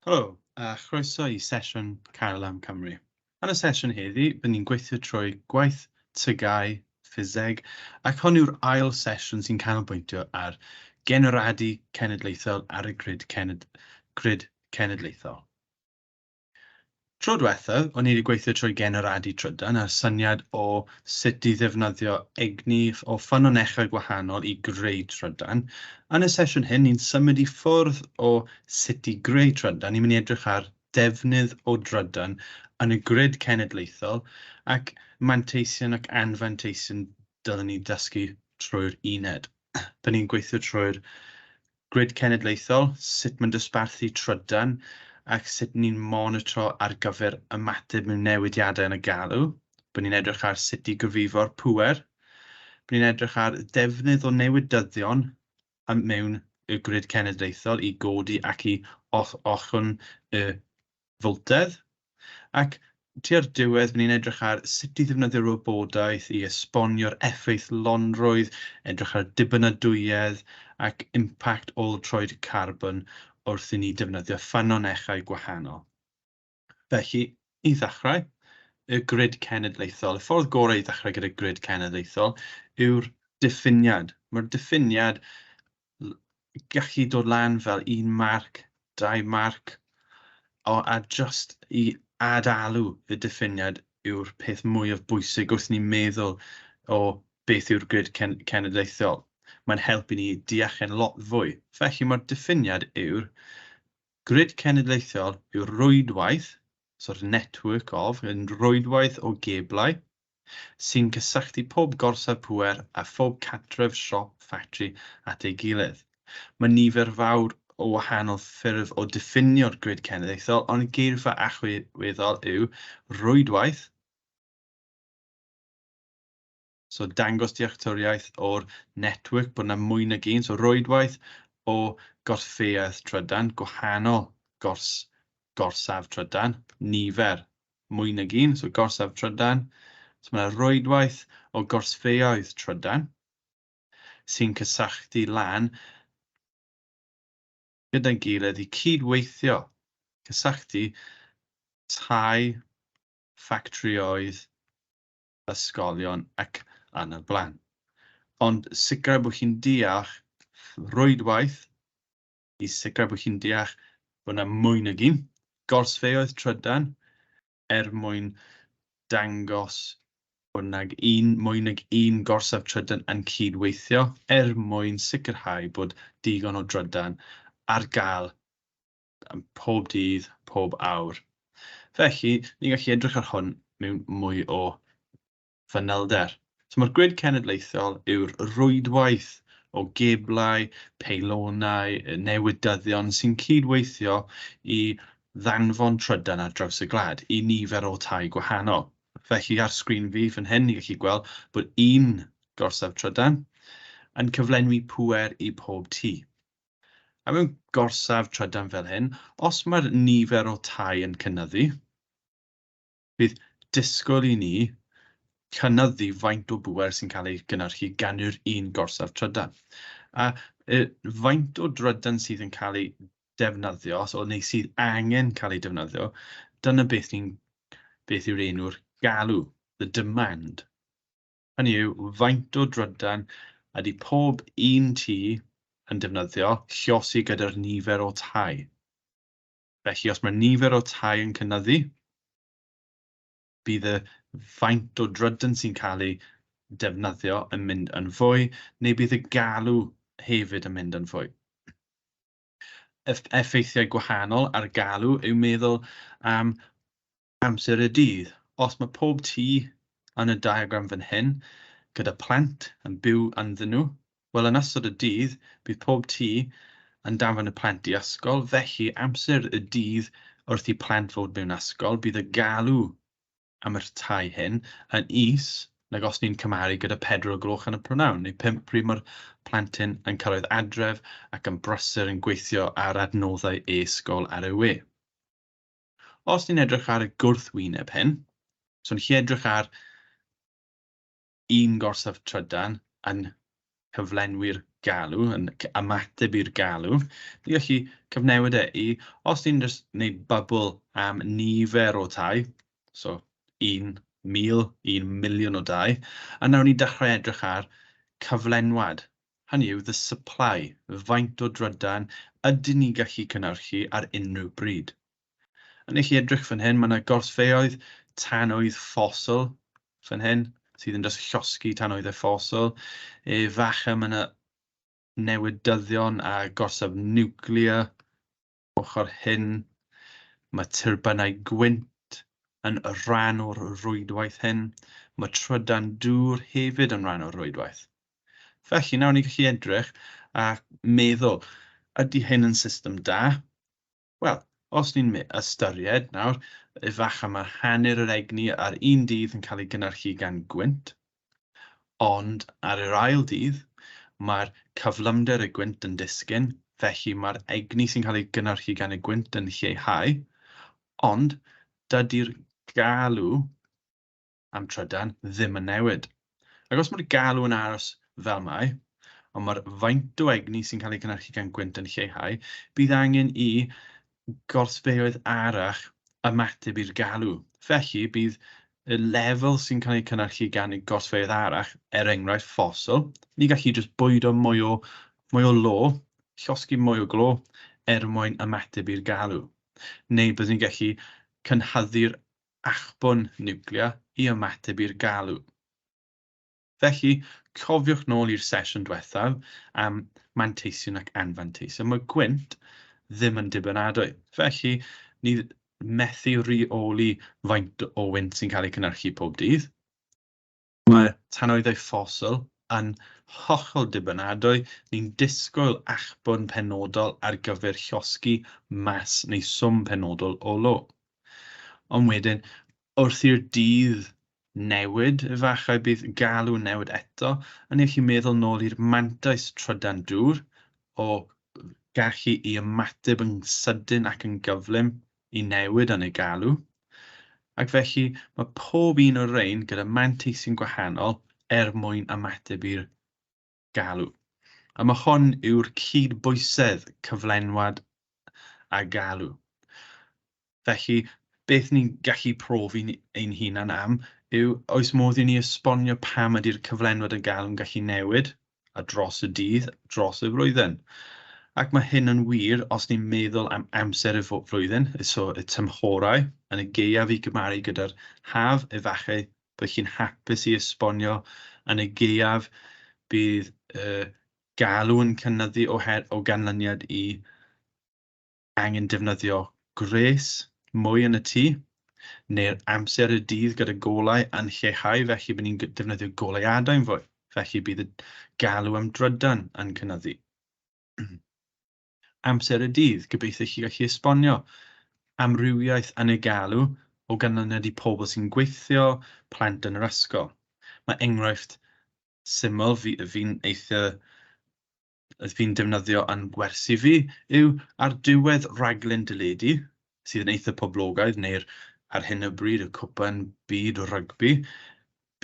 Helo, a chroeso i sesiwn Cael am Cymru. Yn y sesiwn heddi, bydd ni'n gweithio trwy gwaith tygau, ffiseg, ac hon yw'r ail sesiwn sy'n canolbwyntio ar genwradu cenedlaethol ar y grid, cened, grid cenedlaethol. Tro dwethaf o'n i wedi gweithio trwy generadu trydan a'r syniad o sut i ddefnyddio egni o ffynonellau gwahanol i greu trydan. Yn y sesiwn hyn ni'n symud i ffwrdd o sut i greu trydan, ni'n mynd i edrych ar defnydd o drydan yn y grid cenedlaethol ac manteision ac anfanteision dylwn ni ddysgu trwy'r uned. Dyn ni'n gweithio trwy'r Grid Cenedlaethol, sut mae'n dosbarthu trydan ac sut ni'n monitro ar gyfer ymateb mewn newidiadau yn y galw. Bydd ni'n edrych ar sut i gyfrifo'r pŵer. Bydd ni'n edrych ar ddefnydd o newydyddion mewn y Grid Cenedlaethol i godi ac i ollwng y fyltedd, ac tua'r diwedd byddwn ni'n edrych ar sut i ddefnyddio'r wybodaeth i esbonio'r effeithlonrwydd, edrych ar ddibynadwyedd ac impact ôl-troed carbon wrth i ni ddefnyddio ffynonellau gwahanol. Felly, i ddechrau, y grid cenedlaethol. Y ffordd gorau i ddechrau gyda grid cenedlaethol yw'r diffiniad. Mae'r diffiniad gallu dod lan fel un marc, dau marc, o, a just i ad-alw y diffiniad yw'r peth mwyaf bwysig wrth ni meddwl o beth yw'r grid cen cenedlaethol. Mae'n helpu ni deall e'n lot fwy. Felly mae'r diffiniad yw'r grid cenedlaethol yw'r rwydwaith, so'r network of, yn rwydwaith o geblau, sy'n cysylltu pob gorsaf pŵer a phob cartref, siop, ffactri at ei gilydd. Mae nifer fawr o wahanol ffyrdd o ddiffinio'r grid cenedlaethol, ond geirfa allweddol yw rwydwaith, so dangos dealltwriaeth o'r network bod yna mwy nag un, so rwydwaith o gorsfeydd trydan, gwahanol gors, gorsaf trydan, nifer mwy nag un, so gorsaf trydan. So mae yna rwydwaith o gorsfeuoedd trydan sy'n cysylltu lan gyda'n gilydd i cyd-weithio, cysylltu tai, ffactrïoedd, ysgolion ac yn y blaen. Ond sicrhau bod chi'n deall rwydwaith i sicrhau bod chi'n deall bod 'na mwy nag un gorsfeoedd trydan er mwyn dangos bod 'na un, mwy nag un gorsaf trydan yn cyd-weithio er mwyn sicrhau bod digon o drydan ar gael pob dydd, pob awr. Felly, ni'n gallu edrych ar hwn mewn mwy o fanylder. So mae'r grid cenedlaethol yw'r rwydwaith o geblau, peilonau, newydyddion sy'n cyd-weithio i ddanfon trydan ar draws y gwlad i nifer o tai gwahanol. Felly ar sgrin fi fan hyn ni'n gallu gweld bod un gorsaf trydan yn cyflenwi pŵer i pob tŷ. A mewn gorsaf trydan fel hyn, os mae'r nifer o tai yn cynyddu, Bydd disgwyl i ni cynyddu faint o bŵer sy'n cael ei gynhyrchu gan yr un gorsaf trydan. A y faint o drydan sydd yn cael ei defnyddio, os o neu sydd angen cael ei defnyddio, dyna beth ni'n beth yw'r enw'r galw, the demand. Hynny yw, faint o drydan ydy pob un tŷ yn defnyddio llosi gyda'r nifer o tai. Felly os mae nifer o tai yn cynyddu, bydd y faint o drydan sy'n cael ei defnyddio yn mynd yn fwy, neu bydd y galw hefyd yn mynd yn fwy. Effeithiau gwahanol ar galw yw meddwl am amser y dydd. Os mae pob tŷ yn y diagram fan hyn, gyda plant yn byw ynddyn nhw, wel yn ystod y dydd, bydd pob tŷ yn danfon y plant i ysgol, felly amser y dydd wrth i plant fod mewn ysgol, bydd y galw am yr tai hyn yn is nag os ni'n cymaru gyda pedwar o gloch yn y prynawn, neu pump pryd mae'r plentyn yn cyrraedd adref ac yn brysur yn gweithio ar adnoddau e-ysgol ar ei we. Os ni'n edrych ar y gwrthwyneb hyn, so yn lle edrych ar un gorsaf trydan yn cyflenwi'r galw, yn ymateb i'r galw, ni gallu cyfnewid e i, os ni'n just wneud bubl am nifer o tai, so 1,000, 1 miliwn o dai, a nawr ni'n dechrau edrych ar cyflenwad hynny yw the supply, faint o drydan ydyn ni'n gallu cynhyrchu ar unrhyw bryd. Yn eich edrych fan hyn, mae yna gorsfeoedd tanwydd ffosil fan hyn, sydd yn just llosgi tanwydd a ffosil. E, facha mae yna newydyddion a gorsaf niwclear ochr hyn, mae tyrbynau gwynt yn rhan o'r rwydwaith hyn, mae trydan dŵr hefyd yn rhan o'r rwydwaith. Felly, nawr ni'n gallu edrych a meddwl, ydy hyn yn system da? Wel, os ni'n ystyried nawr, efallai mae hanner yr egni ar un dydd yn cael ei gynhyrchu gan gwynt, Ond ar yr ail dydd, mae'r cyflymder y gwynt yn disgyn, felly mae'r egni sy'n cael ei gynhyrchu gan y gwynt yn lleihau, ond dydy'r galw am trydan ddim yn newid. Ac os mae'r galw yn aros fel mae, ond mae'r faint o egni sy'n cael ei gynhyrchu gan gwynt yn lleihau, bydd angen i gortbeoedd arall ymateb i'r galw. Felly, bydd y lefel sy'n cael ei cynhyrchu gan y gortbeoedd arall, er enghraifft ffosil, ni'n gallu jyst bwydo mwy o, mwy o lo, llosgi mwy o glo, er mwyn ymateb i'r galw. Neu byddwn ni'n gallu cynhyddu'r achbwn niwclear i ymateb i'r galw. Felly, cofiwch nôl i'r sesiwn diwethaf am manteision ac anfanteision. Mae gwynt ddim yn dibynadwy. Felly, ni methu rheoli faint o wynt sy'n cael ei cynhyrchu pob dydd. Mae tanoeddau ffosil yn hollol dibynadwy. Ni'n disgwyl achbwn penodol ar gyfer llosgi mas neu swm penodol o lo. Ond wedyn, wrth i'r dydd newid efallai bydd galw newid eto yn eich i meddwl nôl i'r mantais trydan dŵr o gallu i ymateb yn sydyn ac yn gyflym i newid yn y galw ac felly mae pob un o'r rhain gyda manteisi'n gwahanol er mwyn ymateb i'r galw. A mae hon yw'r cyd-bwysedd cyflenwad a galw. Felly, beth ni'n gallu profi ein hunan am yw oes modd i ni esbonio pam ydy'r cyflenwad a galw'n gallu newid a dros y dydd, dros y flwyddyn. Ac mae hyn yn wir os ni'n meddwl am amser y flwyddyn, so y tymhorau, yn y gaeaf i gymaru gyda'r haf, efallai Byddech chi'n hapus i esbonio yn y gaeaf bydd y galw yn cynyddu o her o ganlyniad i angen defnyddio gwres mwy yn y tŷ, neu'r amser y dydd gyda golau yn lleihau felly bydd ni'n defnyddio goleuadau yn fwy, felly bydd y galw am drydan yn cynyddu. amser y dydd, gobeithio i chi gallu esbonio amrywiaeth anegalu o ganlyniad i pobl sy'n gweithio, plant yn yr ysgol. Mae enghraifft syml fi, fi'n eitha fi'n defnyddio yn gwersi fi yw ar diwedd rhaglen deledu sydd yn eitha poblogaidd neu'r ar hyn o bryd y cwpan byd o rygbi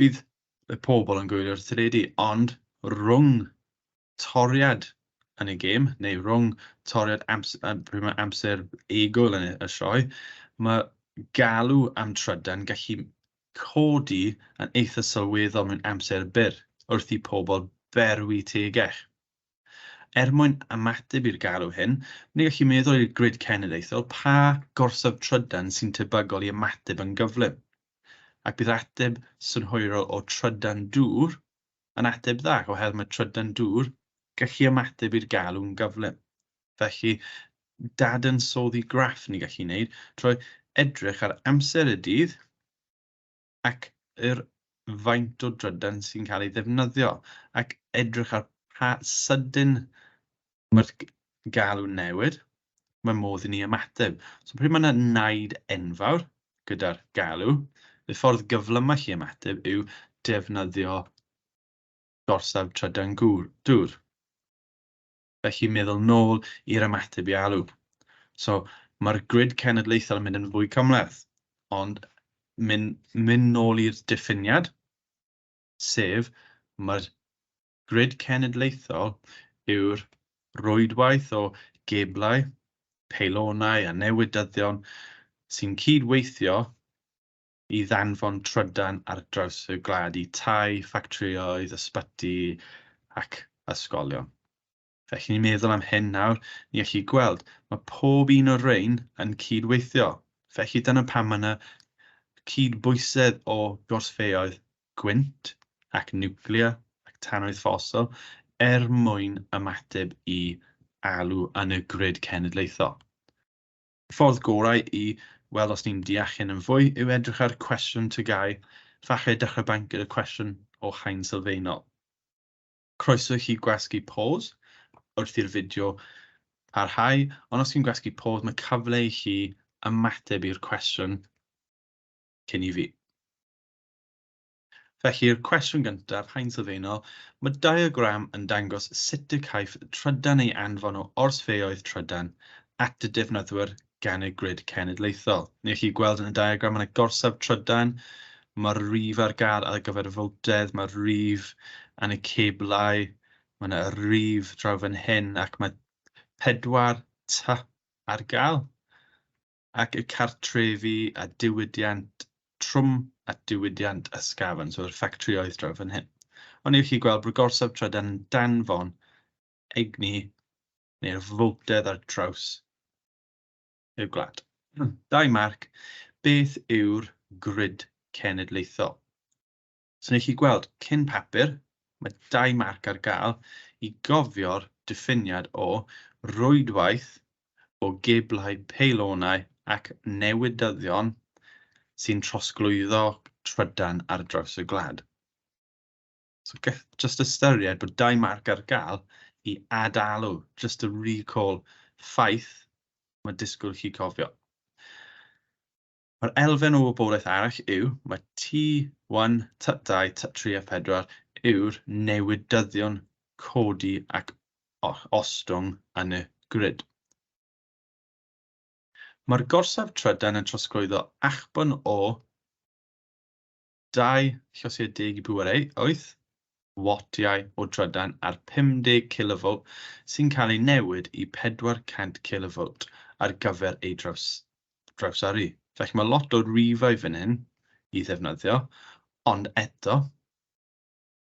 bydd y pobl yn gwylio'r teledu ond rhwng toriad yn y gêm, neu rhwng toriad amser egwyl yn y sioe, mae galw am trydan gallu codi yn eitha sylweddol mewn amser byr wrth i pobl berwi tegell. Er mwyn ymateb i'r galw hyn, ni gallu meddwl i'r grid cenedlaethol pa gorsaf trydan sy'n tebygol i ymateb yn gyflym, ac bydd ateb synhwyrol o trydan dŵr yn ateb dda oherwydd mae trydan dŵr gallu ymateb i'r galw'n gyflym. Felly, dadansoddi graff ni'n gallu wneud trwy edrych ar amser y dydd ac yr faint o drydan sy'n cael ei ddefnyddio ac edrych ar pa sydyn Mae'r galw'n newid, mae modd i ni ymateb. So pryd mae yna naid enfawr gyda'r galw, y ffordd gyflymau chi ymateb yw defnyddio gorsaf trydan dŵr. Felly meddwl nôl i'r ymateb i alw. So mae'r grid cenedlaethol yn mynd yn fwy cymhleth, ond mynd, mynd nôl i'r diffiniad, sef mae'r Grid cenedlaethol yw'r rwydwaith o geblau, peilonau a newydyddion sy'n cyd-weithio i ddanfon trydan ar draws y gwlad i tai, ffactrïoedd, ysbyty ac ysgolion. Felly ni'n meddwl am hyn nawr, ni allai gweld, mae pob un o'r rhain yn cyd-weithio. Felly dyna pam mae yna cyd-bwysedd o gorsfeoedd gwynt ac niwclea ac tannoedd ffosil er mwyn ymateb i alw yn y grid cenedlaethol. Y ffordd gorau i weld os ni'n deall hyn yn fwy yw edrych ar cwestiwn TGAU, falle dechrau bant gyda cwestiwn o haen sylfaenol. Croeso i chi gwasgu pause wrth i'r fideo parhau, ond os chi'n gwasgu pause mae cyfle i chi ymateb i'r cwestiwn cyn i fi. Felly'r cwestiwn gyntaf, haen sylfaenol, mae diagram yn dangos sut y caiff trydan ei anfon o orsfeoedd trydan at y defnyddwyr gan y Grid Cenedlaethol. Neu chi gweld yn y diagram yn y gorsaf trydan, mae'r rif ar gael ar gyfer y fowtedd, mae'r rif yn y ceblau, mae yna y rif draw fan hyn ac mae pedwar ty ar gael ac y cartrefi a diwydiant trwm a diwydiant ysgafn, so'r ffactrioedd draw fan hyn. Ond neu chi gweld bod y gorsaf trydan yn danfon egni neu'r fowtedd ar draws y gwlad. Dau marc, beth yw'r grid cenedlaethol? So wneud chi gweld, cyn papur, mae dau marc ar gael i gofio'r diffiniad o rwydwaith o geblau peilonau ac newidyddion sy'n trosglwyddo trydan ar draws y gwlad. So gall just ystyried bod dau marc ar gael i ad-alw, just to recall ffaith mae disgwyl chi cofio. Mae'r elfen o wybodaeth arall yw, mae T1, T2, T3 a 4 yw'r newidyddion codi ac ostwng yn y grid. Mae'r gorsaf trydan yn trosglwyddo achbwn o dau llosiau deg i bŵer eu wyth wattiau o drydan ar 50 cilovolt sy'n cael eu newid i 400 cilovolt ar gyfer eu drawsyrru. Felly mae lot o rifau fan hyn i ddefnyddio, ond eto,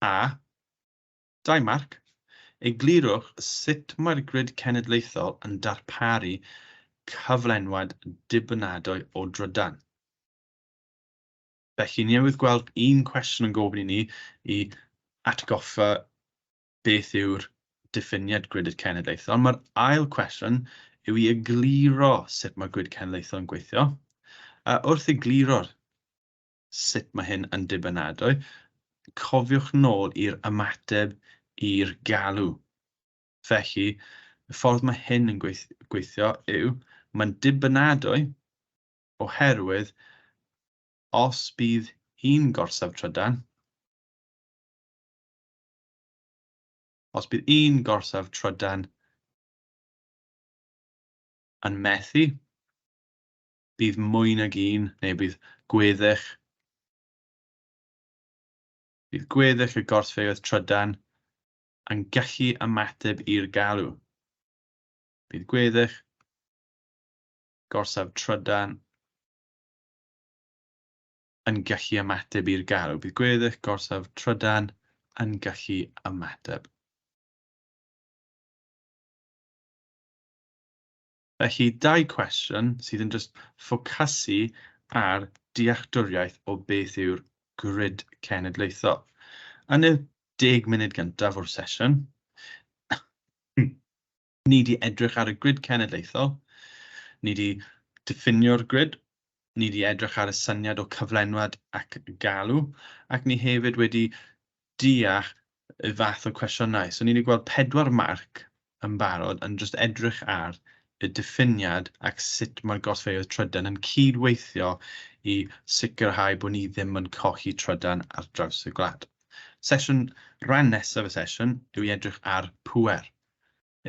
a, dau marc, eglurwch sut mae'r grid cenedlaethol yn darparu cyflenwad dibynadwy o drydan. Felly, ni newydd gweld un cwestiwn yn gofyn i ni i atgoffa beth yw'r diffiniad gwydr cenedlaethol. Mae'r ail cwestiwn yw i egluro sut mae gwyd cenedlaethol yn gweithio. A wrth egluro sut mae hyn yn dibynadwy, cofiwch nôl i'r ymateb i'r galw. Felly, y ffordd mae hyn yn gweithio yw, mae'n dibynadwy oherwydd os bydd un gorsaf trydan, os bydd un gorsaf trydan yn methu, bydd mwy nag un, neu bydd gweddill, bydd gweddill y gorsfeydd trydan yn gallu ymateb i'r galw. Bydd gweddill gorsaf trydan yn gallu ymateb i'r galw. Bydd gweddill gorsaf trydan yn gallu ymateb. Felly, dau cwestiwn sydd yn just ffocasu ar dealltwriaeth o beth yw'r grid cenedlaethol. Yn y deg munud gyntaf o'r sesiwn, Ni wedi edrych ar y grid cenedlaethol, ni wedi diffinio'r grid, ni wedi edrych ar y syniad o cyflenwad ac galw, ac ni hefyd wedi deall y fath o cwestiynau. So ni wedi gweld pedwar marc yn barod yn just edrych ar y diffiniad ac sut mae'r golffeoedd trydan yn cyd-weithio i sicrhau bod ni ddim yn colli trydan ar draws y gwlad. Sesiwn, rhan nesaf y sesiwn yw i edrych ar pŵer.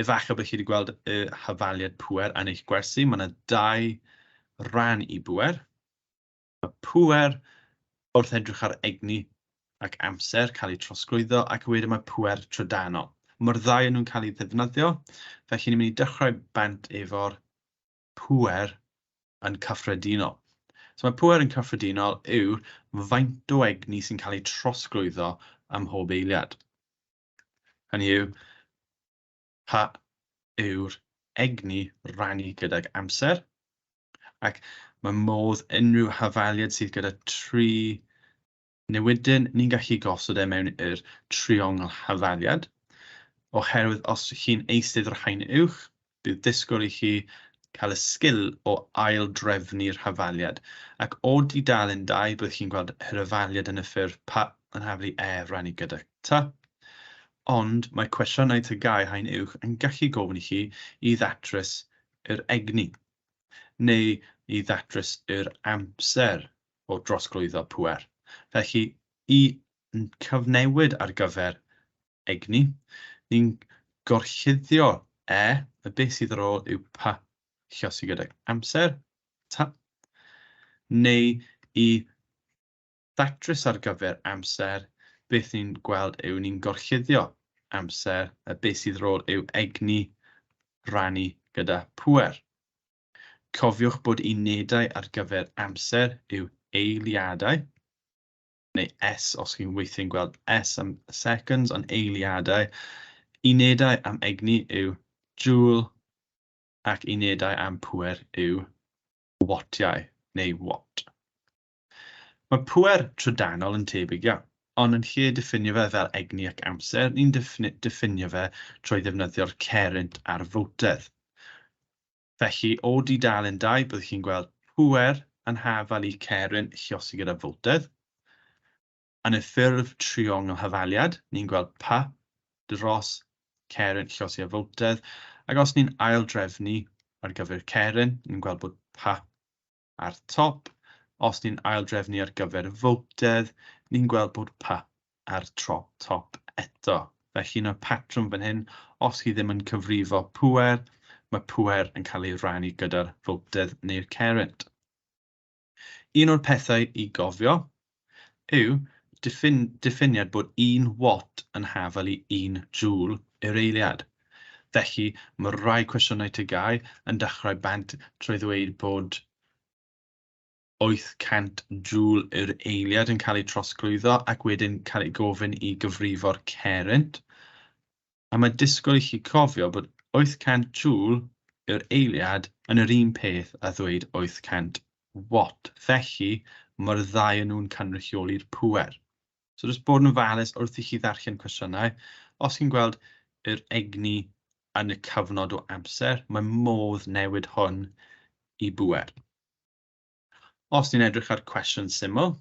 Efallai bod chi wedi gweld y hafaliad pŵer yn eich gwersi. Mae yna dau ran i bŵer. Mae pŵer wrth edrych ar egni ac amser cael eu trosglwyddo ac wedyn mae pŵer trydanol. Mae'r ddau yn nhw'n cael eu ddefnyddio, felly ni'n mynd i dechrau bant efo'r pŵer yn cyffredinol. So mae pŵer yn cyffredinol yw'r faint o egni sy'n cael ei trosglwyddo ym mhob eiliad. Hynny yw, pa yw'r egni rannu gydag amser, ac mae modd unrhyw hafaliad sydd gyda tri newydyn, ni'n gallu gosod e mewn i'r triongl hafaliad, oherwydd os chi'n eisteddfod rhain uwch, Bydd disgwyl i chi cael y sgil o ail-drefnu'r hafaliad, ac o dudalen dau bydd chi'n gweld yr hafaliad yn y ffurf pa yn haflu e rannu gyda ta. Ond mae cwestiynau TGAU Haen Uwch yn gallu gofyn i chi i ddatrys yr egni, neu i ddatrys yr amser o drosglwyddo pŵer, felly i yn cyfnewid ar gyfer egni, ni'n gorchuddio e, y beth sydd ar ôl yw pa chiosi gydag amser, ta, neu i ddatrys ar gyfer amser, beth ni'n gweld yw ni'n gorchuddio amser, y beth sydd ar ôl yw egni rannu gyda pŵer. Cofiwch bod unedau ar gyfer amser yw eiliadau, neu S os chi'n weithiau'n gweld S am seconds, ond eiliadau. Unedau am egni yw joule ac unedau am pŵer yw wattiau neu watt. Mae pŵer trydanol yn tebyg iawn, ond yn lle diffinio fe fel egni ac amser, ni'n diffinio fe trwy ddefnyddio'r cerrynt a'r fowtedd. Felly, o dudalen dau, byddwch chi'n gweld pŵer yn hafal i ceryn lluosog gyda fowtedd. Yn y ffurf triongl hafaliad, ni'n gweld pa dros ceryn lluosog a fowtedd, ac os ni'n aildrefnu ar gyfer ceryn, ni'n gweld bod pa Ar top, os ni'n aildrefnu ar gyfer y fowtedd, ni'n gweld bod P ar tro top eto. Felly un o'r patrwm fan hyn, os chi ddim yn cyfrifo pŵer, mae pŵer yn cael ei rannu gyda'r fowtedd neu'r cerrynt. Un o'r pethau i gofio yw diffiniad bod un watt yn hafal i un jŵl yr eiliad. Felly, mae rhai cwestiynau TGAU yn dechrau bant trwy ddweud bod 800 jŵl yr eiliad yn cael ei trosglwyddo ac wedyn cael ei gofyn i gyfrifo'r cerrynt. a mae disgwyl i chi cofio bod 800 joule yw'r eiliad yn yr un peth â ddweud 800 watt, felly mae'r ddau yn nhw'n cynrychioli'r pŵer. So jyst bod yn ofalus wrth i chi ddarllen cwestiynau, os chi'n gweld yr egni yn y cyfnod o amser, mae modd newid hwn i bŵer. Os ni'n edrych ar cwestiwn syml,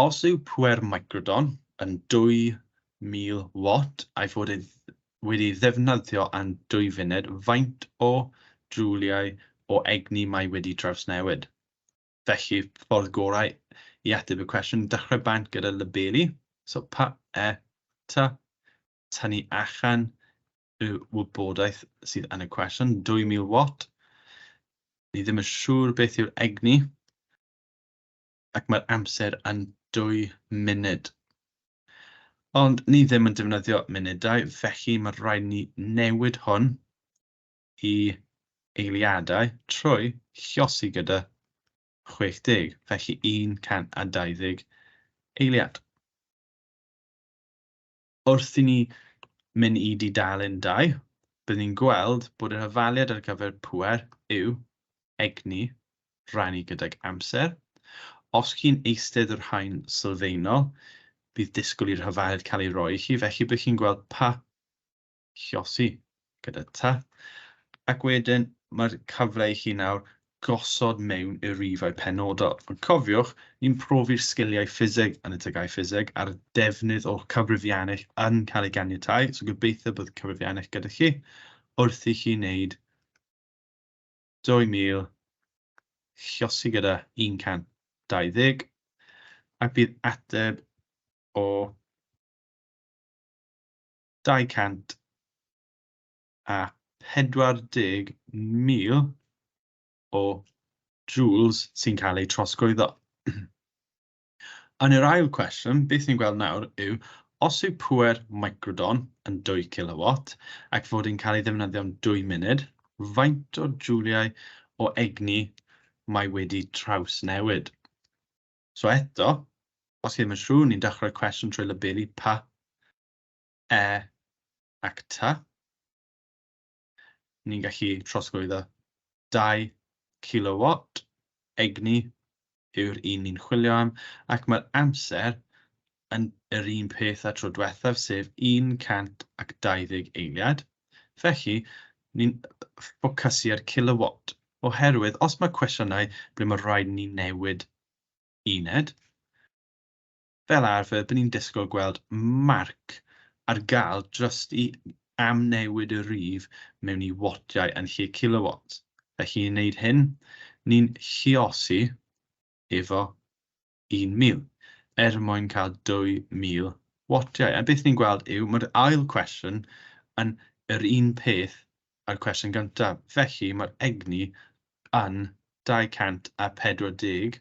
Os yw pŵer microdon yn 2000 watt a'i fod e wedi ei ddefnyddio am dwy funed, faint o jwliau o egni mae wedi trawsnewid? Felly, ffordd gorau i ateb y cwestiwn, dechrau bant gyda labelu, so pa, e, ta, tynnu allan y wybodaeth sydd yn y cwestiwn, 2000 watt, ni ddim yn siŵr beth yw'r egni, ac mae'r amser yn dwy munud. Ond ni ddim yn defnyddio munudau, felly mae rhaid ni newid hwn i eiliadau trwy llosi gyda 60, felly 120 eiliad. Wrth i ni mynd i dudalen dau, byddwn ni'n gweld bod yr hafaliad ar gyfer pŵer yw egni rannu gydag amser. Os chi'n eistedd o'r haen sylfaenol, bydd disgwyl i'r hafaliad cael ei roi i chi, felly bydd chi'n gweld pa Llosi gyda ta, ac wedyn mae'r cyfle i chi nawr gosod mewn i'r rifau penodol. Ond cofiwch, ni'n profi'r sgiliau ffiseg yn y tygau ffiseg a'r defnydd o'r cyfrifiannell yn cael ei ganiatáu, so gobeithio bod y cyfrifiannell gyda chi wrth i chi wneud 2000 llosi gyda 120 ac bydd ateb o 240,000 o joules sy'n cael eu trosglwyddo. Yn yr ail cwestiwn, beth ni'n gweld nawr yw, os yw pŵer microdon yn 2 kilowatt ac fod e'n cael ei ddefnyddio'n 2 munud, faint o jouliau o egni mae wedi trawsnewid? So eto, os chi ddim yn siŵr, ni'n dechrau cwestiwn trwy labelu pa e ac ta. Ni'n gallu trosglwyddo 2 kilowatt egni yw'r un ni'n chwilio am, ac mae'r amser yn yr un peth â'r tro diwethaf, sef 120 eiliad. Felly, ni'n ffocysu ar kilowatt, oherwydd os mae cwestiynau ble mae rhaid ni newid uned, fel arfer, byddwn ni'n disgwyl gweld marc ar gael drost i am newid y rhif mewn i wattiau yn lle kilowatts. Felly, i wneud hyn, ni'n lluosi efo 1000, er mwyn cael 2000 wattiau. A beth ni'n gweld yw, mae'r ail cwestiwn yn yr un peth â'r cwestiwn gyntaf. Felly, mae'r egni yn 240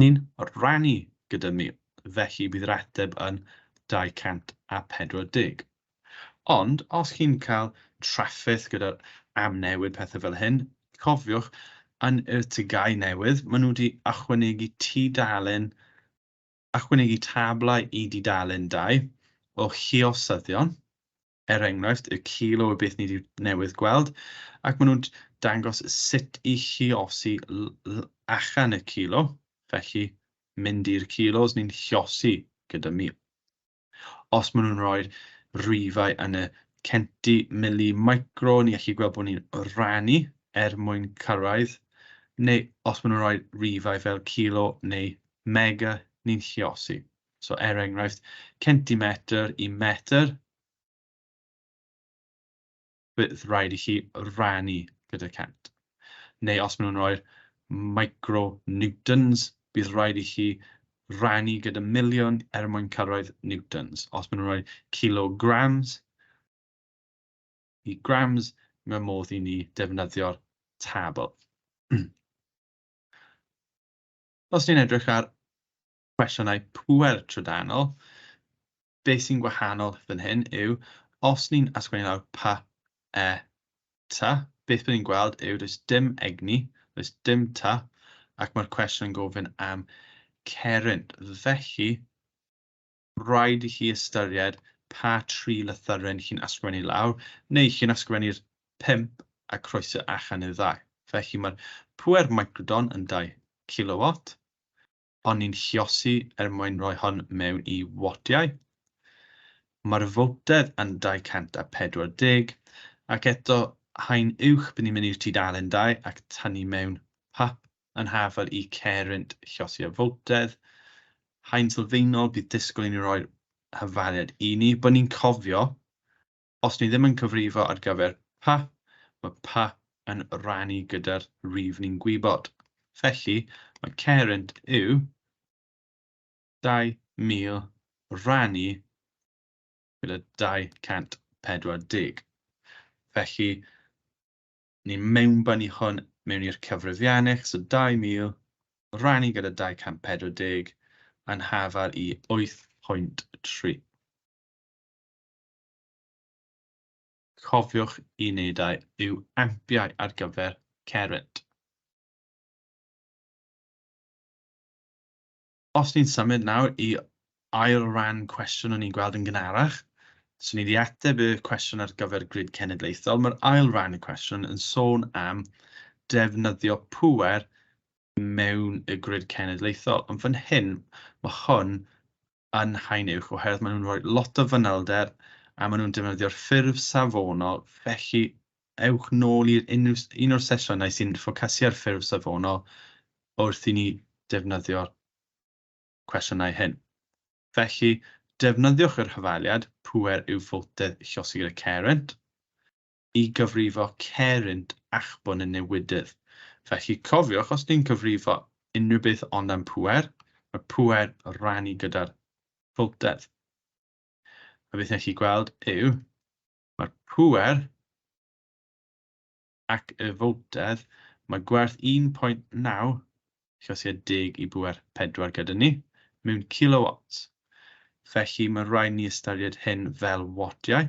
hynny'n rhannu gyda mi, felly bydd yr ateb yn 240. Ond os chi'n cael trafferth gyda'r amnewid pethau fel hyn, cofiwch, yn yr TGAU newydd, maen nhw wedi ychwanegu tudalen, ychwanegu tablau i dudalen dau o hiosyddion, er enghraifft, y cil o beth ni 'di newydd gweld, ac maen nhw'n dangos sut i chiosi achan y cilo, felly mynd i'r kilos ni'n chiosi gyda mil. Os maen nhw'n rhoi rwyfau yn y centi, mili, micro, ni allu gweld bod ni'n rannu er mwyn cyrraedd, neu os maen nhw'n rhoi rwyfau fel kilo neu mega, ni'n chiosi. So er enghraifft, centimetr i metr, bydd rhaid i chi rannu gyda cent. Neu os maen nhw'n rhoi'r micronewtons, bydd rhaid i chi rannu gyda miliwn er mwyn cyrraedd newtons. Os maen nhw'n rhoi kilograms i grams, mae modd i ni defnyddio'r tabl. Os ni'n edrych ar cwestiynau pŵer trydanol, be sy'n gwahanol fan hyn yw, os ni'n ysgrifennu lawr pa, e, ta, beth byddwn ni'n gweld yw does dim egni, does dim ta, ac mae'r cwestiwn yn gofyn am ceryn. Felly, rhaid i chi ystyried pa tri lythyren chi'n ysgrifennu lawr, neu chi'n ysgrifennu'r pump a croeso allan i'r ddau. Felly mae'r pŵer microdon yn 2 kilowatt, ond ni'n lluosi er mwyn rhoi hon mewn i wodiau. Mae'r fowtedd yn 240, ac eto haen uwch bydden ni'n mynd i'r tudalen dau ac tynnu mewn pap yn hafal i Caerent lluosi y fowtedd. Haen sylfaenol bydd disgwyl i ni roi'r hyfaliad i ni, bod ni'n cofio Os ni ddim yn cyfrifo ar gyfer pa, mae pa yn rhannu gyda'r rif ni'n gwybod. Felly, mae Kerent yw 2,000 rhannu gyda 240. Felly, ni'n mewnbynnu hwn mewn i'r cyfrifianneg, so 2,000 rhannu gyda 240 yn hafal i 8.3. Cofiwch i wneud a yw ampiau ar gyfer cerrynt. Os ni'n symud nawr i ail ran cwestiwn o'n i'n gweld yn gynharach, so ni wedi ateb y cwestiwn ar gyfer grid cenedlaethol, mae'r ail ran y cwestiwn yn sôn am defnyddio pŵer mewn y grid cenedlaethol. Ond fan hyn, mae hwn yn haen uwch oherwydd maen nhw'n rhoi lot o fanylder a maen nhw'n defnyddio'r ffurf safonol, felly ewch nôl i un o'r sesiynau sy'n ffocysu ar ffurf safonol wrth i ni defnyddio'r cwestiynau hyn. Felly, defnyddiwch yr hyfaliad, pŵer yw ffotedd llosgi gyda Carent, i gyfrifo cerrynt achbwn y newidydd. Felly, cofiwch, os ni'n cyfrifo unrhyw beth ond am pŵer, mae pŵer rannu gyda'r pwltedd. A beth nech chi gweld yw, mae'r pŵer ac y fwltedd, mae gwerth 1.9 llosiau deg i bŵer 4 gyda ni, mewn kilowatts. Felly, mae rhaid ni ystyried hyn fel watiau.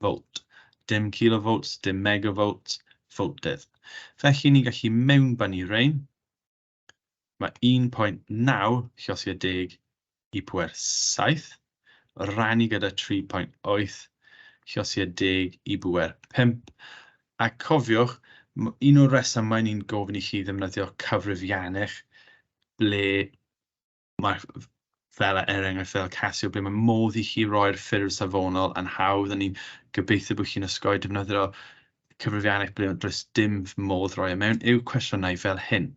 volt, dim kilovolts, dim megavolts, voltedd. Felly ni'n gallu mewnbynnu rhain. Mae 1.9 llosgiad deg i pwer 7, rannu gyda 3.8 llosgiad deg i bwer 5. A cofiwch, un o'r resymau ni'n gofyn i chi ddefnyddio cyfrifiannau ble Mae fel er enghraifft fel Casio ble mae modd i chi roi'r ffurf safonol yn hawdd a ni'n gobeithio bod chi'n osgoi defnyddio cyfrifiannau ble does dim modd rhoi e mewn i'w cwestiynau fel hyn.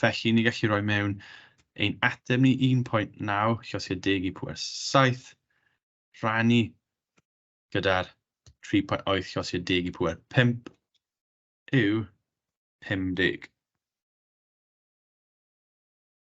Felly, ni gallu rhoi mewn ein ateb ni 1.9 llosgiad deg i pwer 7 rhannu gyda'r 3.8 llosgiad deg i pwer 5 yw 50.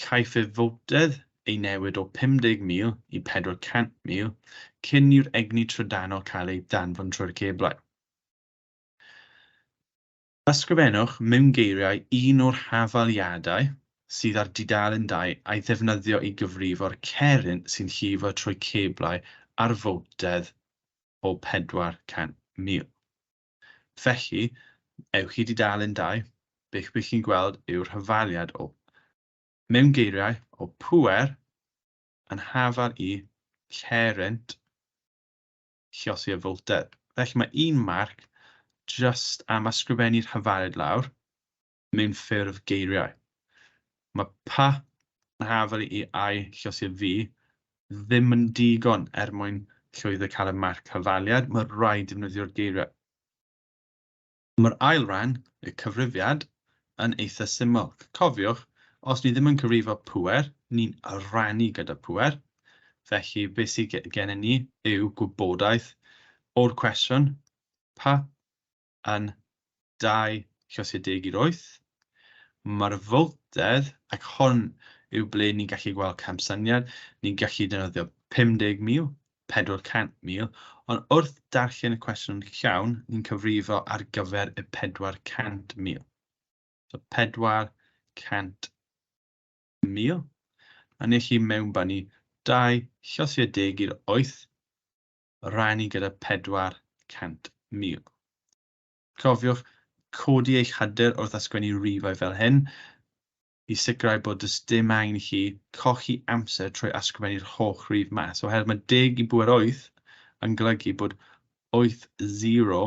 Caiff y fowdedd ei newid o 50,000 i 400,000 cyn i'r egni trydanol cael ei danfon trwy'r ceblau. Ysgrifennwch mewn geiriau un o'r hafaliadau sydd ar dudalen dau a'i ddefnyddio i gyfrifo'r ceryn sy'n llifo trwy ceblau ar fowdedd o 400,000. Felly, ewch i dudalen dau, beth bych chi'n gweld yw'r hyfaliad o, mewn geiriau, o pŵer yn hafal i lle rent chiosi y fowlder. Felly mae un marc jyst am ysgrifennu'r hyfaliad lawr, mewn ffurf geiriau. Mae pa hafal i ai llosir fi ddim yn digon er mwyn llwyddo cael y marc hafaliad, mae rhaid defnyddio'r geiriau. Mae'r ail ran, y cyfrifiad, yn eitha syml. Cofiwch, os ni ddim yn cyfrifo pŵer, ni'n rhannu gyda pŵer, felly beth sydd gennym ni yw gwybodaeth o'r cwestiwn pa yn 28. Mae'r fowltedd, ac hon yw ble ni'n gallu gweld camsyniad, ni'n gallu defnyddio 50,000, 400,000, ond wrth darllen y cwestiwn llawn, ni'n cyfrifo ar gyfer y 400,000. So 400,000 mil, a ni chi mewnbynnu dau llosiau deg i'r oeth rhannu gyda 400,000. Cofiwch codi eich hyder wrth ysgwennu rifau fel hyn i sicrhau bod does dim angen i chi colli amser trwy ysgrifennu'r holl rif mas, oherwydd mae deg i bŵer wyth yn golygu bod wyth zero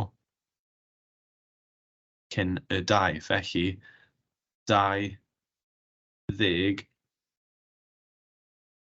cyn y dau, felly 20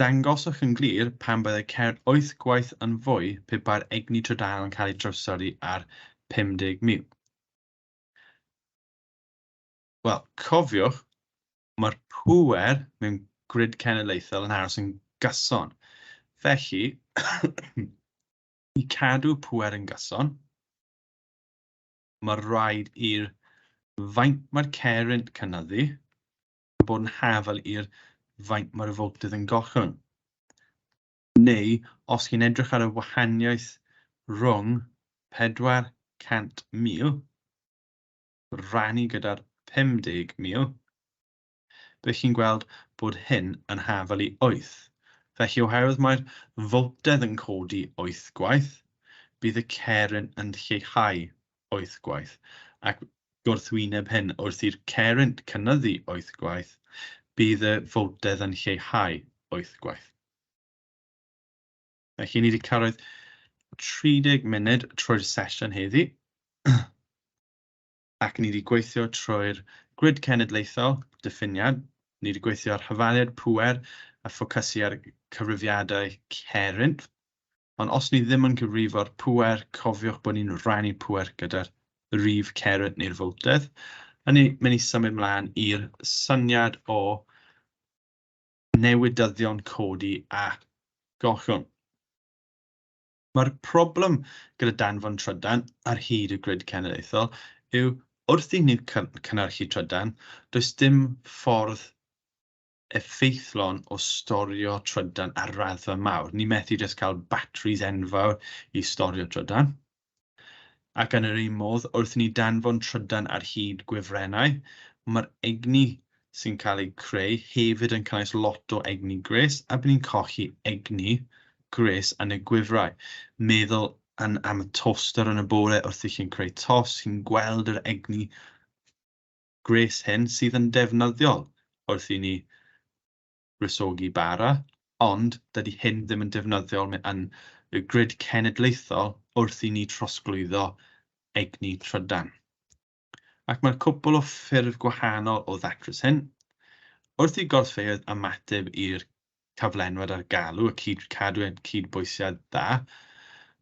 Dangoswch yn glir pam byddai ceir wyth gwaith yn fwy pe bai'r egni trydanol yn cael ei drawsori ar 50,000. Wel, cofiwch, mae'r pŵer mewn grid cenedlaethol yn aros yn gyson. Felly, i cadw pŵer yn gyson, mae rhaid i'r faint mae'r ceir yn cynyddu, yn bod yn hafal i'r faint mae'r afordydd yn gollwng. Neu, os chi'n edrych ar y wahaniaeth rhwng 400,000 rannu gyda'r 50,000, bydd chi'n gweld bod hyn yn hafal i 8. Felly, oherwydd mae'r fwltedd yn codi 8 gwaith, bydd y ceryn yn lleihau wyth gwaith ac gwrthwyneb hyn, wrth i'r cerrynt cynyddu wyth gwaith, bydd y fowldedd yn lleihau wyth gwaith. Felly, ni wedi cyrraedd 30 munud trwy'r sesiwn heddi, ac ni wedi gweithio trwy'r grid cenedlaethol, diffiniad, ni wedi gweithio ar hyfaliad pŵer a ffocysu ar cyfrifiadau cerrynt, Ond os ni ddim yn cyfrifo'r pŵer, cofiwch bod ni'n rhannu pŵer gyda'r rif cerdd neu'r fowtedd. Hynny, mae ni symud mlaen i'r syniad o newidyddion codi a gollwng. Mae'r problem gyda danfon trydan ar hyd y grid cenedlaethol yw wrth i ni cynnyrchu trydan, does dim ffordd effeithlon o storio trydan ar raddfa mawr. Ni methu jyst cael batteries enfawr i storio trydan. Ac yn yr un modd, wrth i ni danfon trydan ar hyd gwefrennau, mae'r egni sy'n cael ei creu hefyd yn cynnwys lot o egni gres, a bydd ni'n colli egni gres yn y gwifrau. Meddwl yn am y toaster yn y bore wrth i chi'n creu tos, chi'n gweld yr egni gwres hyn sydd yn ddefnyddiol wrth i ni wresogi bara, ond dydy hyn ddim yn defnyddiol yn y grid cenedlaethol wrth i ni trosglwyddo egni trydan. Ac mae'r cwpl o ffyrdd gwahanol o ddatrys hyn. Wrth i gorffeoedd ymateb i'r cyflenwad ar galw a cyd, cadw cydbwysiad dda,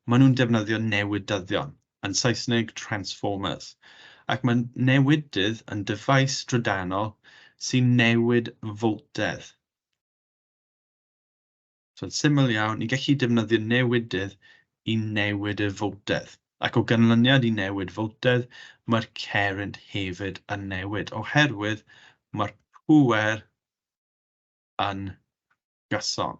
maen nhw'n defnyddio newidyddion, yn Saesneg transformers, ac mae newidydd yn dyfais drydanol sy'n newid foltedd. So'n syml iawn, ni'n gallu defnyddio newidydd i newid y foltedd. Ac o ganlyniad i newid foltedd, mae'r cerrynt hefyd yn newid, oherwydd mae'r pŵer yn gyson.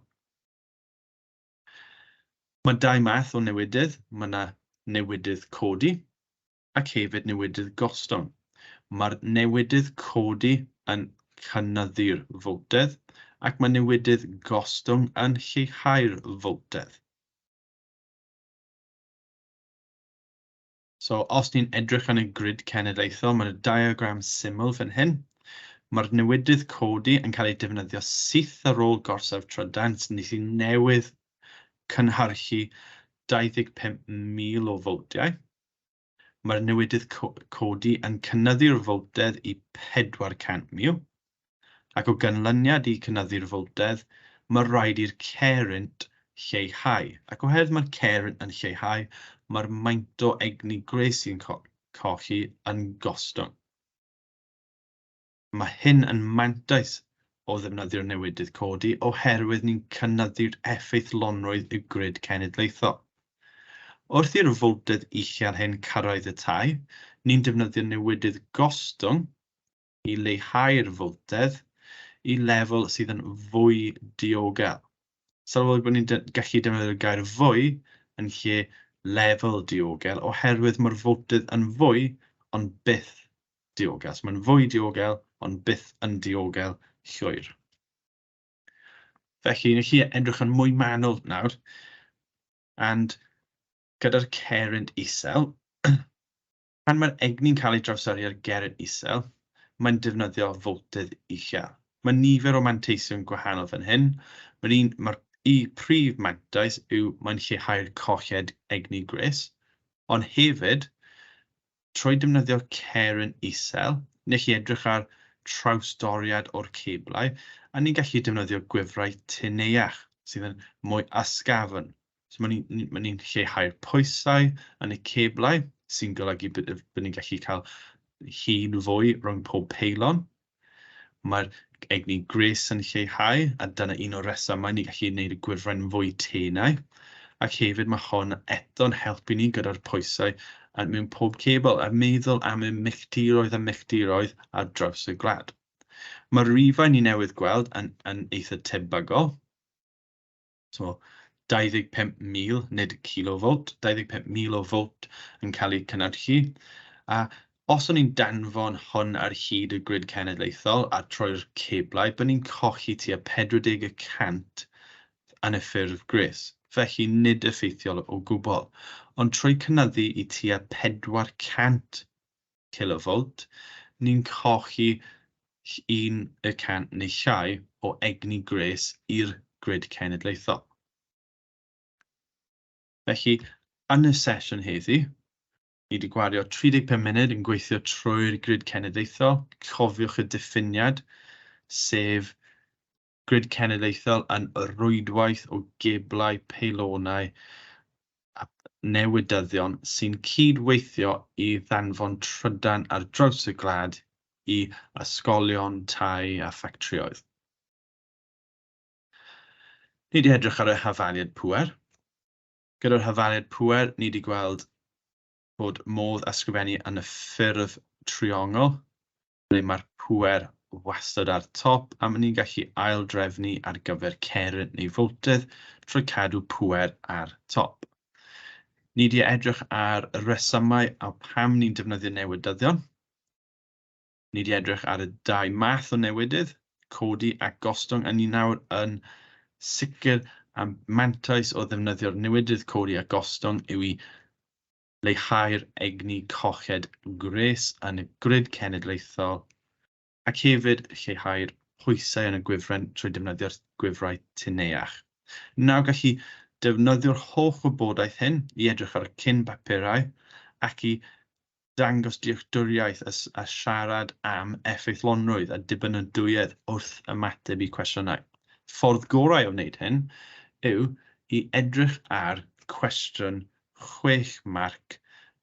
Mae dau math o newidydd, mae yna newidydd codi ac hefyd newidydd gostwng. Mae'r newidydd codi yn cynyddu'r fowltedd ac mae newidydd gostwng yn lleihau'r fowltedd. So, os ni'n edrych yn y grid cenedlaethol, mae'n y diagram syml fan hyn. Mae'r newidydd codi yn cael ei defnyddio syth ar ôl gorsaf trydan, sy'n ni sy'n newydd cynhyrchu 25,000 o fowtiau. Mae'r newidydd codi yn cynnyddu'r fowtedd i 400,000. ac o ganlyniad i cynyddu'r fowldedd, mae rhaid i'r cerrynt lleihau, ac oherwydd mae'r cerrynt yn lleihau, mae'r maint o egni gwres sy'n colli yn gostwng. Mae hyn yn mantais o ddefnyddio'r newidydd codi oherwydd ni'n cynyddu'r effeithlonrwydd y grid cenedlaethol. Wrth i'r fowldedd uchel hyn cyrraedd y tai, ni'n defnyddio newidydd gostwng i leihau'r fwltedd i lefel sydd yn fwy diogel. Sylweddol bod ni'n gallu defnyddio'r gair fwy yn lle lefel diogel oherwydd mae'r fwltedd yn fwy ond byth diogel. So mae'n fwy diogel ond byth yn diogel llwyr. Felly, ni chi edrych yn mwy manwl nawr, and gyda'r ceryn isel, Pan mae'r egni'n cael ei drawsyrru ar geryn isel, mae'n defnyddio foltedd uchel. Mae nifer o manteision gwahanol fan hyn, mae'r un mae'r y prif mantais yw mae'n lleihau'r colled egni gwres, ond hefyd, trwy defnyddio ceryn isel, ni'n gallu edrych ar trawsdoriad o'r ceblau a ni'n gallu defnyddio gwefrau tyneuach sydd yn mwy ysgafn So mae'n ni'n ma ni lleihau'r pwysau yn y ceblau sy'n golygu bod ni'n gallu cael hun fwy rhwng pob peilon. Mae'r egni gres yn lleihau a dyna un o'r resymau ni'n gallu gwneud y gwifren fwy tenau. Ac hefyd mae hon eto'n helpu ni gyda'r pwysau mewn pob cebl a meddwl am y milltiroedd a milltiroedd ar draws y gwlad. Mae'r rifau ni newydd gweld yn, yn eitha tebygol, so 25,000, nid kilovolt, 25,000 o volt yn cael eu cynhyrchu. A os o'n i'n danfon hwn ar hyd y grid cenedlaethol a troi'r ceblau, byddwn ni'n colli tua 40 y cant yn y ffurf gwres, felly nid effeithiol o gwbl. Ond trwy cynyddu i tua 400 kilovolt, ni'n colli 1 y cant neu llai o egni gwres i'r grid cenedlaethol. Felly, yn y sesiwn heddi, ni wedi gwario 35 munud yn gweithio trwy'r grid cenedlaethol, cofiwch y diffiniad, sef Grid Cenedlaethol yn rwydwaith o geblau, peilonau a newydyddion sy'n cyd-weithio i ddanfon trydan ar draws y gwlad i ysgolion, tai a ffactrïoedd. Ni wedi edrych ar y hafaliad pŵer. Gyda'r hafaliad pŵer, ni wedi gweld bod modd ysgrifennu yn y ffurf triongl, ble mae'r pŵer wastad ar top a mae'n ni'n gallu ail-drefnu ar gyfer ceryn neu fowltydd trwy cadw pŵer ar top. Ni di edrych ar y resymau a pam ni'n defnyddio newydyddion. Ni di edrych ar y dau math o newidydd, codi a gostwng, a ni nawr yn sicr am mantais o ddefnyddio'r newidydd codi a gostwng yw i leihau'r egni coched gwres yn y grid cenedlaethol, ac hefyd lleihau'r pwysau yn y gwifren trwy defnyddio'r gwifrau tun-each. Nawr gallu defnyddio'r holl wybodaeth hyn i edrych ar y cyn-bapurau ac i ddangos dealltwriaeth a siarad am effeithlonrwydd a dibynadwyedd wrth ymateb i cwestiynau. Ffordd gorau o wneud hyn yw i edrych ar cwestiwn chwech marc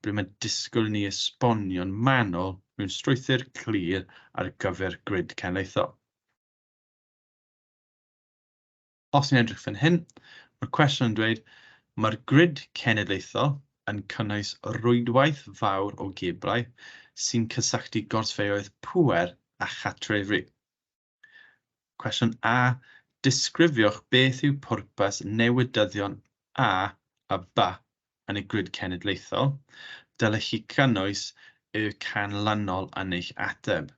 ble mae'n disgwyl i ni esbonio'n manwl mewn strwythur clir ar gyfer grid cenedlaethol. Os ni'n edrych fan hyn, mae'r cwestiwn yn dweud, mae'r grid cenedlaethol yn cynnwys rwydwaith fawr o geblau sy'n cysylltu gorsfeoedd pŵer a chatrefri. Cwestiwn A, Disgrifiwch beth yw pwrpas newydyddion A a B yn y Grid Cenedlaethol. Dylech chi gynnwys y canlynol yn eich ateb.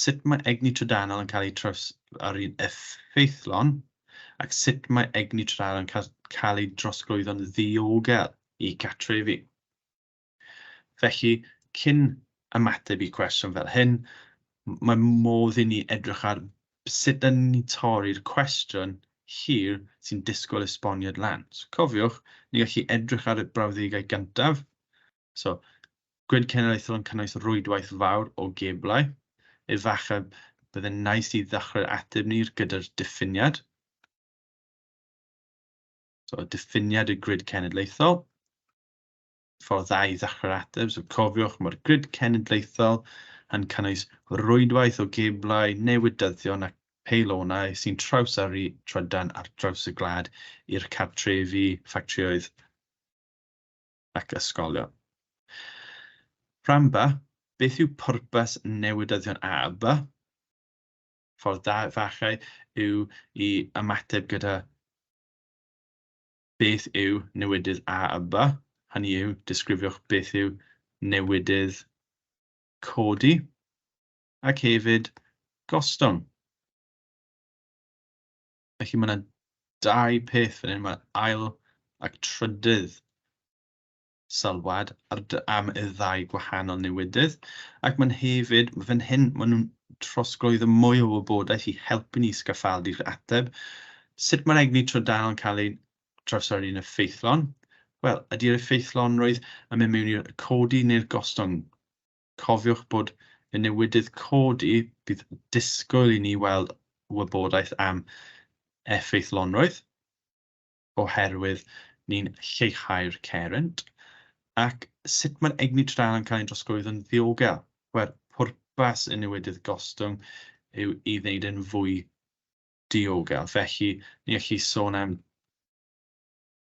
Sut mae egni trydanol yn cael ei trawsgluro'n effeithlon ac sut mae egni trydanol yn cael ei drosglwyddo'n ddiogel i gartrefi? Felly, cyn ymateb i cwestiwn fel hyn, mae modd i ni edrych ar sut dan ni'n torri'r cwestiwn hir sy'n disgwyl esboniad lawnt. Cofiwch, ni'n gallu edrych ar y brawddegau gyntaf. So, Grid cenedlaethol yn cynnwys rwydwaith fawr o geblau. Efallai byddai'n nais i ddechrau'r ateb ni gyda'r diffiniad. So, diffiniad y grid cenedlaethol. ffordd dda i ddechrau'r ateb. So cofiwch, mae'r grid cenedlaethol yn cynnwys rwydwaith o geblau, newydyddion ac peilonau sy'n trawsyrru trydan ar draws y gwlad i'r cartrefi, ffactrioedd ac ysgolion. Rhan ba, beth yw pwrpas newydyddion A a B? Ffordd da fachau yw i ymateb gyda beth yw newidydd A a B, hynny yw, disgrifiwch beth yw newidydd codi ac hefyd gostwng. Felly mae yna dau peth fan hyn, mae ail ac trydydd sylwad ar dy am y ddau gwahanol newidydd, ac mae'n hefyd, fan hyn, maen nhw'n trosglwyddo mwy o wybodaeth i helpu ni sgaffaldu'r ateb. Sut mae'r egni trydanol yn cael ei drawsnodi yn effeithlon? Wel, ydy'r effeithlonrwydd yn mynd mewn i'r codi neu'r gostwng? Cofiwch bod y newidydd codi, bydd disgwyl i ni weld wybodaeth am effeithlonrwydd. oherwydd ni'n lleihau'r cerrynt, ac sut mae'r egni trydan yn cael ei drosglwyddo'n ddiogel. Wel, pwrpas y newidydd gostwng yw i wneud e'n fwy diogel. Felly, ni'n gallu sôn am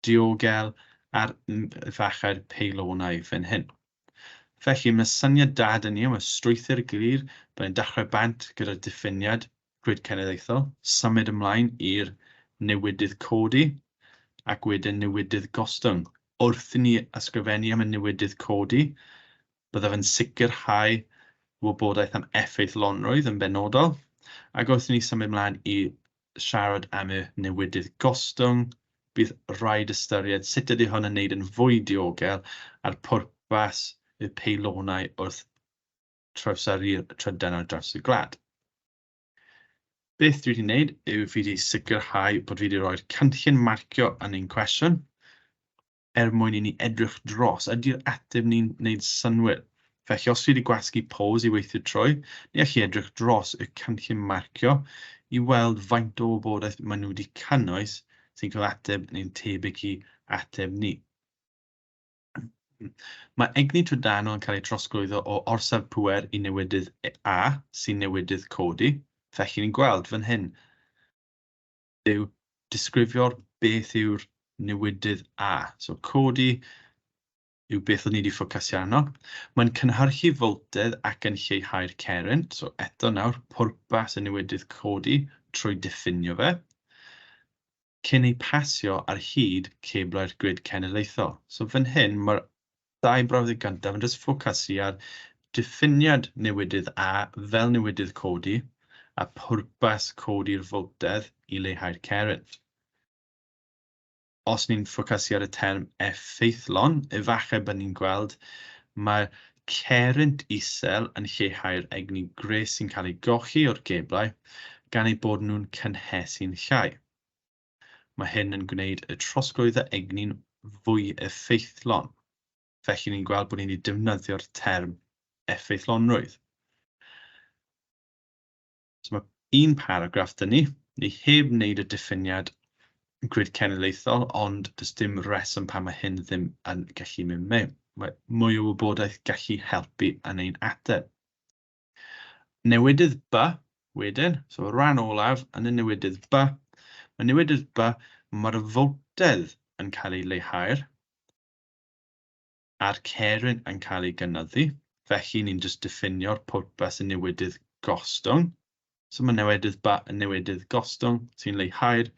diogel ar fachau'r peilonau fan hyn. Felly, mae syniad da 'da ni am y strwythur glir, byddai'n dechrau bant gyda'r diffiniad Grid Cenedlaethol, symud ymlaen i'r newidydd codi ac wedyn newidydd gostwng. Wrth i ni ysgrifennu am y newidydd codi, byddaf yn sicrhau wybodaeth am effeithlonrwydd yn benodol, ac wrth i ni symud ymlaen i siarad am y newidydd gostwng, bydd rhaid ystyried sut ydy hwn yn wneud yn fwy diogel a'r pwrpas y peilonau wrth trawsari'r trydan ar draws y gwlad. Beth dwi wedi gwneud yw fi wedi sicrhau bod fi wedi rhoi'r canllun marcio yn ein cwestiwn er mwyn i ni edrych dros ydy'r ateb ni'n gwneud synwyr. Felly os fi wedi gwasgu pose i weithio trwy, ni allai edrych dros y canllun marcio i weld faint o wybodaeth maen nhw wedi cynnwys sy'n cael ateb neu'n tebyg i ateb ni. Mae egni trydanol yn cael ei drosglwyddo o orsaf pŵer i newidydd A, sy'n newidydd codi, felly ni'n gweld fan hyn, yw disgrifio beth yw'r newidydd A. So codi yw beth o'n ni wedi ffocasio arno. Mae'n cynhyrchu foltedd ac yn lleihau'r ceren, so eto nawr pwrpas y newidydd codi trwy diffinio fe. cyn eu pasio ar hyd cablau'r grid cenedlaethol. So fan hyn, mae'r dau brawddeg gyntaf yn jyst ffocasu ar diffiniad newidydd A fel newidydd codi a pwrpas codi'r foltedd i leihau'r cerrynt. Os ni'n ffocasu ar y term effeithlon, efallai bydd ni'n gweld mae cerrynt isel yn lleihau'r egni gwres sy'n cael ei golli o'r geblau gan eu bod nhw'n cynhesu'n llai. Mae hyn yn gwneud y trosglwyddo egni'n fwy effeithlon, felly ni'n gweld bod ni wedi defnyddio'r term effeithlonrwydd. So mae un paragraff dyn ni, ni heb wneud y diffiniad grid cenedlaethol, ond does dim reswm pan mae hyn ddim yn gallu mynd mewn. Mae mwy o wybodaeth gallu helpu yn ein ateb. Newidydd B, wedyn, so rhan olaf yn y newidydd B, mae newidydd B, mae'r fowtedd yn cael ei leihau'r a'r ceryn yn cael ei gynyddu, felly ni'n jyst diffinio'r pwrpas y newidydd gostwng. So mae newidydd, ba, newidydd gostwng sy'n leihau'r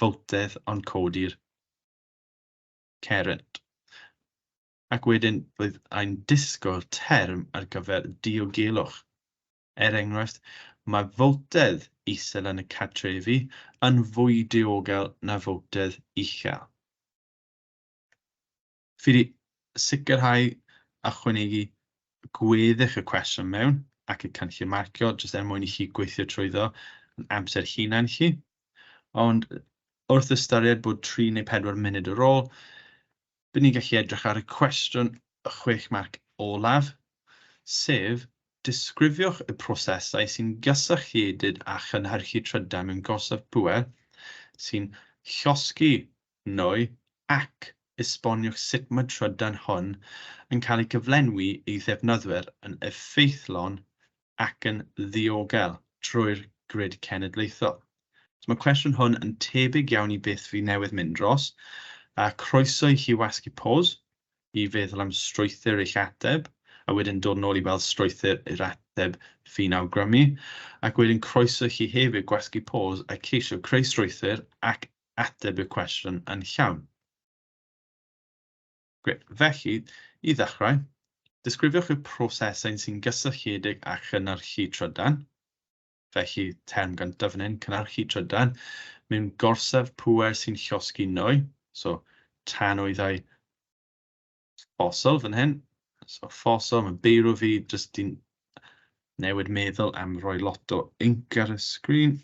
fowltedd ond codi'r ceryn. Ac wedyn bydd ein disgwyl term ar gyfer diogelwch. Er enghraifft, mae fowltedd isel yn y cartrefi yn fwy diogel na fowltedd uchel. Fi 'di sicrhau ychwanegu gweddill y cwestiwn mewn ac y cynllun marcio jyst er mwyn i chi gweithio trwyddo yn amser hunan chi. Ond wrth ystyried bod tri neu pedwar munud ar ôl, bydd ni'n gallu edrych ar y cwestiwn y chwech marc olaf, sef disgrifiwch y prosesau sy'n gysylltiedig â chynhyrchu trydau mewn gorsaf pŵer sy'n llosgi neu ac esboniwch sut mae trydan hwn yn cael ei gyflenwi i ddefnyddwyr yn effeithlon ac yn ddiogel trwy'r grid cenedlaethol. So mae'r cwestiwn hwn yn tebyg iawn i beth fi newydd mynd dros, a croeso i chi wasgu pos i feddwl am strwythur eich ateb, a wedyn dod nôl i weld strwythur yr ateb fi'n awgrymu, ac wedyn croeso i chi hefyd gwasgu pos a ceisio creu strwythur ac ateb y cwestiwn yn llawn. Gret. Felly, i ddechrau, disgrifiwch y prosesau sy'n gysylltiedig â chynnyrchu trydan. Felly, term gyntaf fan hyn, cynnyrchu trydan, mewn gorsaf pŵer sy'n llosgi nwy, so tanwyddau ffosil fan hyn, so ffosil, mae'n beirw fi, jyst di'n newid meddwl am roi lot o inc ar y sgrin.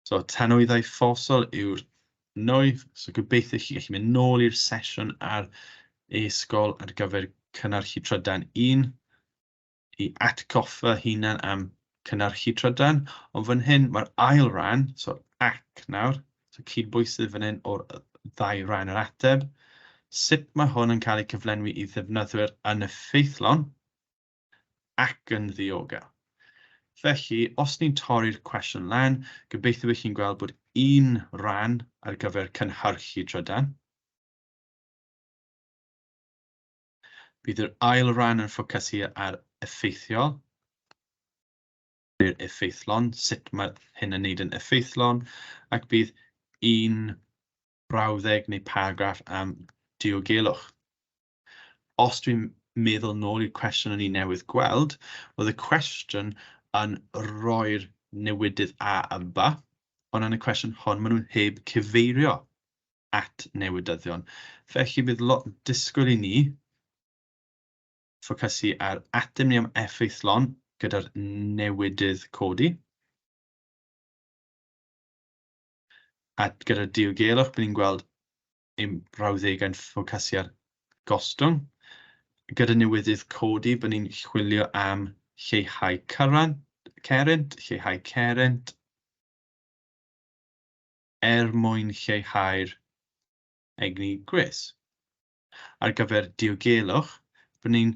So, tanwyddau fosol yw'r nwy. So, gobeithio chi gallu mynd nôl i'r sesiwn ar e-sgol ar gyfer cynnyrchu trydan un i atgoffa hunan am cynnyrchu trydan. Ond fan hyn, mae'r ail ran, so ac nawr, so cydbwysydd fan hyn o'r ddau ran yr ateb. Sut mae hwn yn cael ei cyflenwi i ddefnyddwyr yn effeithlon? ac yn ddiogel. Felly, os ni'n torri'r cwestiwn lan, gobeithio bod chi'n gweld bod un ran ar gyfer cynhyrchu trydan. Bydd yr ail ran yn ffocysu ar effeithiol, neu'r effeithlon, sut mae hyn yn neud yn effeithlon, ac bydd un brawddeg neu paragraff am diogelwch. Os dwi'n meddwl nôl i'r cwestiwn o'n i newydd gweld, oedd y cwestiwn yn rhoi'r newidydd a yn ba, ond yn y cwestiwn hon maen nhw heb cyfeirio at newidyddion. Felly bydd lot disgwyl i ni ffocysu ar ateb ni am effeithlon gyda'r newidydd codi. A gyda'r diogelwch, bydd ni'n gweld ein brawddegau'n ffocysu ar gostwng. Gyda newydydd codi, byddwn ni'n chwilio am lleihau cyran- cerrynt, lleihau cerrynt, er mwyn lleihau'r egni gwres. Ar gyfer diogelwch, byddwn ni'n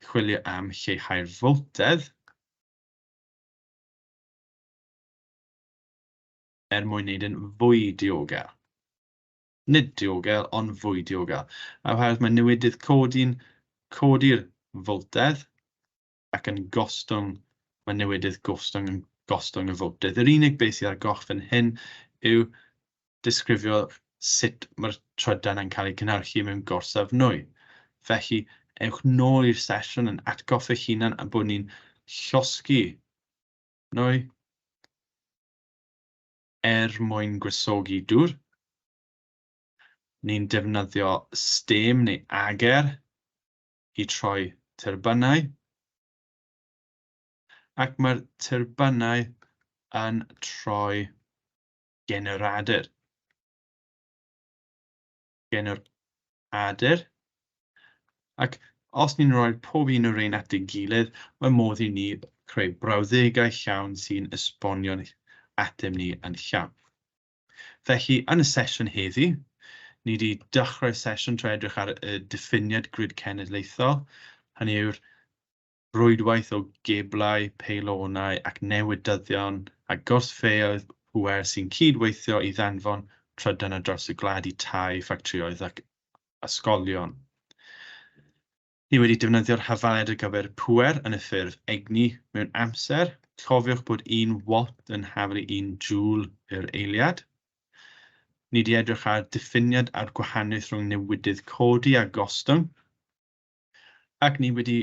chwilio am lleihau'r foltedd, er mwyn wneud yn fwy diogel. nid diogel ond fwy diogel, oherwydd mae newidydd codi'n codi'r foltedd ac yn gostwng, mae newidydd gostwng yn gostwng y foltedd. Yr unig beth sydd ar goll fan hyn yw disgrifio sut mae'r trydan yn cael ei cynhyrchu mewn gorsaf nwy. Felly, ewch nôl i'r sesiwn yn atgoffa eich hunan a bod ni'n llosgi nwy. er mwyn gwresogi dŵr. Ni'n defnyddio stêm neu ager i troi tyrbynau, ac mae'r tyrbynau yn troi generadur. genwr Adur. Ac os ni'n rhoi pob un o rein at ei gilydd, mae modd i ni creu brawddegau llawn sy'n esbonio'n ateb ni yn llawn. Felly, yn y sesiwn heddi, ni wedi dechrau sesiwn trwy edrych ar y diffiniad grid cenedlaethol, hynny yw'r rwydwaith o geblau, peilonau ac newydyddion a gortfeoedd pŵer sy'n cyd-weithio i ddanfon trydan ar draws y gwlad i tai, ffactrïoedd ac ysgolion. Ni wedi defnyddio'r hafaliad ar gyfer pŵer yn y ffurf egni mewn amser, cofiwch bod un watt yn haflu un joule yr eiliad. Ni wedi edrych ar ddiffiniad a'r gwahaniaeth rhwng newidydd codi a gostwng. Ac ni wedi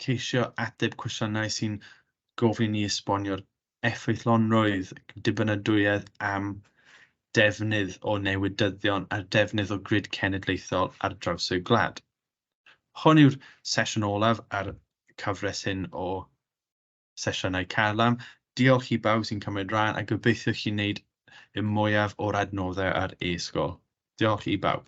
ceisio ateb cwestiynau sy'n gofyn i ni esbonio'r effeithlonrwydd, dibynadwyedd am defnydd o newydyddion a'r defnydd o grid cenedlaethol ar draws y gwlad. Hon yw'r sesiwn olaf a'r cyfres hyn o sesiynau Carlam. Diolch i bawb sy'n cymryd rhan a gobeithio chi'n wneud y mwyaf o'r adnoddau ar e-sgol. Diolch i bawb.